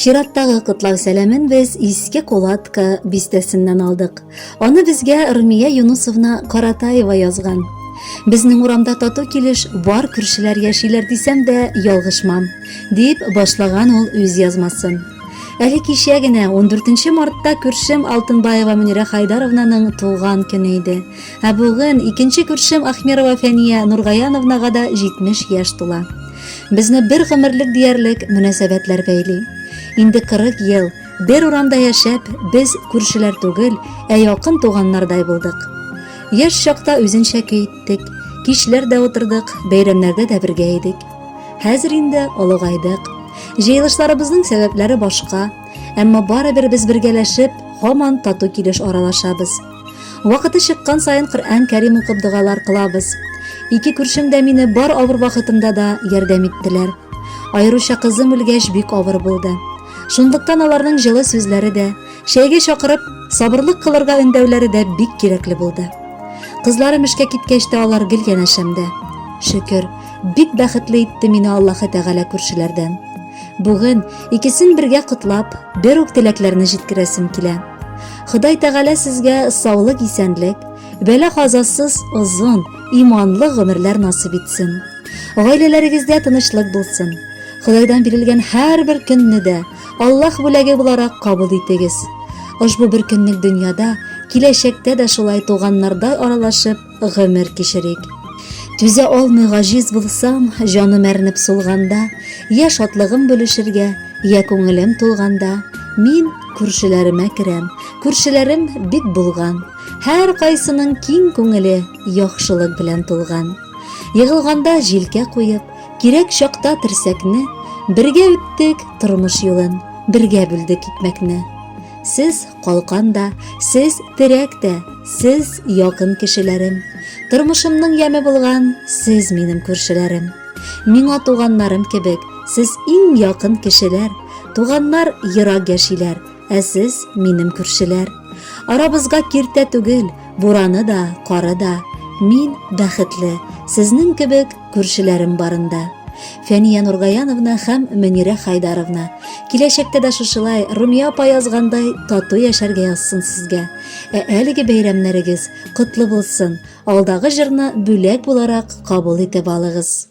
Чираттагы котлау сәламен без Иске Кулатка бистәсеннән алдык. Аны безгә Румия Юнусовна Каратаева язган. Безнең урамда тату килеш бар күршеләр яшиләр дисәм дә ялгышмам, дип башлаган ул үз язмасын. Әле кичә генә 14 мартта күршем Алтынбаева Мөнирә Хайдаровнаның туган көне иде. Ә бүген икенче күршем Ахмерова Фәния Нургаяновнага да 70 яшь тула. Безне бер гомерлек диярлек мөнәсәбәтләр бәйли. Инде 40 ел бер урамда яшәп, без күршеләр түгел, ә якын туганнардай булдык. Яшь чакта үзенчә көй иттек, кичләр дә утырдык, бәйрәмнәрдә дә бергә идек. Хәзер инде олыгайдык. Җыелышларыбызның сәбәпләре башка, әмма барыбер без бергәләшеп, һаман тату килеш аралашабыз. Вакыты чыккан саен Коръән Кәрим укып догалар кылабыз. Ике күршем дә мине бар авыр вакытымда да ярдәм иттеләр. Аеруча кызым үлгәч бик авыр булды. Шунлыктан аларның җылы сүзләре дә, чәйгә чакырып, сабырлык кылырга өндәүләре дә бик кирәкле булды. Кызларым эшкә киткәч тә алар гел янәшәмдә. Шөкер, бик бәхетле итте мине Аллаһы Тәгалә күршеләрдән. Бүген икесен бергә котлап, бер үк теләкләрне җиткерәсем килә. Ходай Тәгалә сезгә саулык исәнлек, бәлә казасыз озын, иманлы гомерләр насып итсен. Гаиләләрегездә тынычлык булсын. Худайдан бирелгән һәрбер көнне дә Аллаһ бүләге буларак кабул итегез. Ошбу бер көнлек дөньяда, киләчәктә дә шулай туганнардай аралашып, гомер кичерик. Түзә алмый гаҗиз булсам, җаным әрнеп сулганда, я шатлыгым бүлешергә, я күңелем тулганда, мин күршеләремә керәм. Күршеләрем бик булган. Һәр кайсының киң күңеле яхшылык белән тулган. Егылганда җилкә куеп, кирәк чакта терсәкне, бергә үттек тормыш юлын, бергә бүлдек икмәкне. Сез калкан да, сез терәк тә, сез якын кешеләрем. Тормышымның яме булган, сез минем күршеләрем. Миңа туганнарым кебек, сез иң якын кешеләр. Туганнар ерак яшиләр, ә сез минем күршеләр. Арабызга киртә түгел, бураны да, кары да. Мин бәхетле, сезнең кебек Күршеләрем барында. Фәния Нургаяновна һәм Мөнирә Хайдаровна. Киләчәктә дә шушылай Румия апа язгандай тату яшәргә язсын сезгә. Ә әлеге бәйрәмнәрегез котлы булсын. Алдагы җырны бүләк буларак кабул итеп алыгыз.